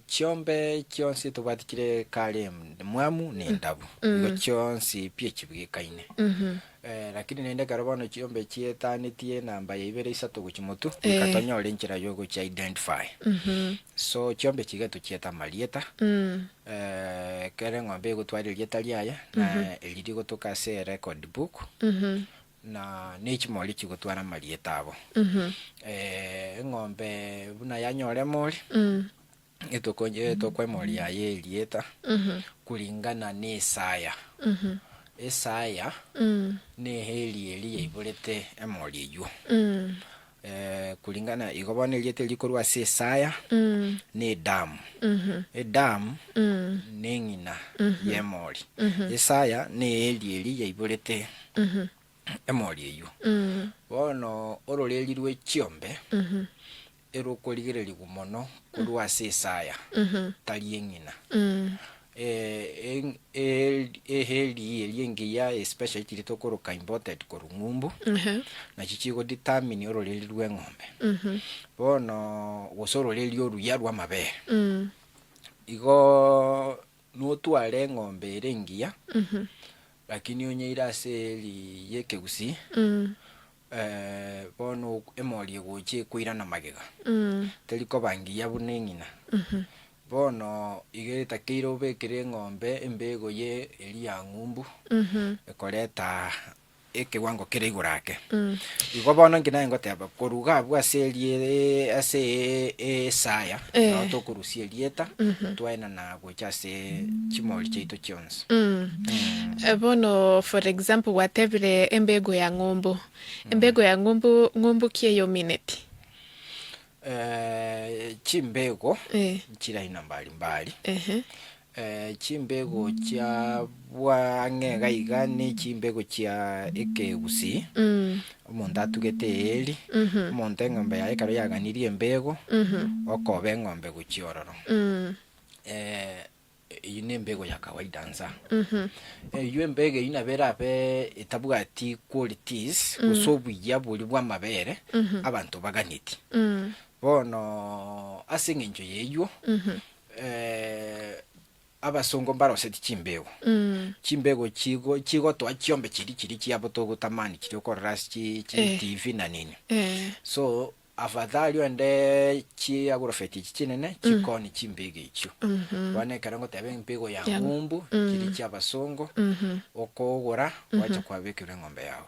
Chiombe chionsi tobwati chire kare mwamu nendabu, igo chionsi pi chibwekaine. Lakini naende ekero bono chiombe chietanetie enamba ya ibere, isato gochia motwe, goika tonyore enchera ya ogochi identify. So chiombe chiga etochiete amarieta, ekero eng'ombe egotwara erieta riaye, na eri rigotoka ase erecord book. na nechimori chigotwara amarieta abo. Eng'ombe buna yanyora emori, etokwa emori yaye erieta kuringana nesaya. Esaya neye eria eri yaiborete emori eyio. Ee, kuringana igo bono erieta erio rikorwa ase Isaya n'edamu. Edamu neng'ina y'emori. Isaya neeri eria yaiborete emori eyio. Bono ororeeri rwe chiombe erokorigererigwa mono korwa ase Isaya tari eng'ina. Eeheri eria engiya especially chiria tokoroka imported korwa ng'umbu nachi chigo determine ororeri rwa eng'ombe bono gose ororeri oruya rwa amabere igoo notware eng'ombe ere engiya lakini onyeire ase eeri ya ekegusii. Bono emori egocha ekoirana magega, teri koba ngiya buna eng'ina. Bono iga etakeire obekere eng'ombe embego ye eria ng'umbu, ekoreta ekewango kere igoro ake. Igo bono inki nare ngoteba, koruga abwo ase erie ase esaya, nabo tokorusia erieta, twaenana abwo. gocha ase chimori chiaito chionsi. Mh. Bono for example gwatebire embego ya ng'umbu. Embego ya ng'umbu, ng'umbu ki eyomineti? Eh, chimbego Eh. nchire aina mbari mbari. Ehe. Eh, chimbego chia bwang'e iga iga ne chimbego chia ekegusii, Mh. omonto atugete eeri, Mh. omonto eng'ombe yaye ekero yaganirie embego, Mh. okoba eng'ombe gochia ororo. Mh. Eh, eyio nembego ya kawaida nsa. Eyio embego eyio nabo erabe etabwati qualities gose obuya boria bw'amabere abanto baganeti. Bono ase eng'encho y'eyio, eh, abasongo mbaroseti chimbego. Chimbego chigo chigotoa chiombe chiria chiria chiabo togotamani chiria okorora ase chi chi Eh. TV na nini. Eh. So, Afadhali ende chiagurofeti echi chinene chikoni chimpigo echio. Bono ekero ngoteba empigo ya ng'umbu chiri chi'abasongo, okogora gwacha kwabekirwe eng'ombe yao.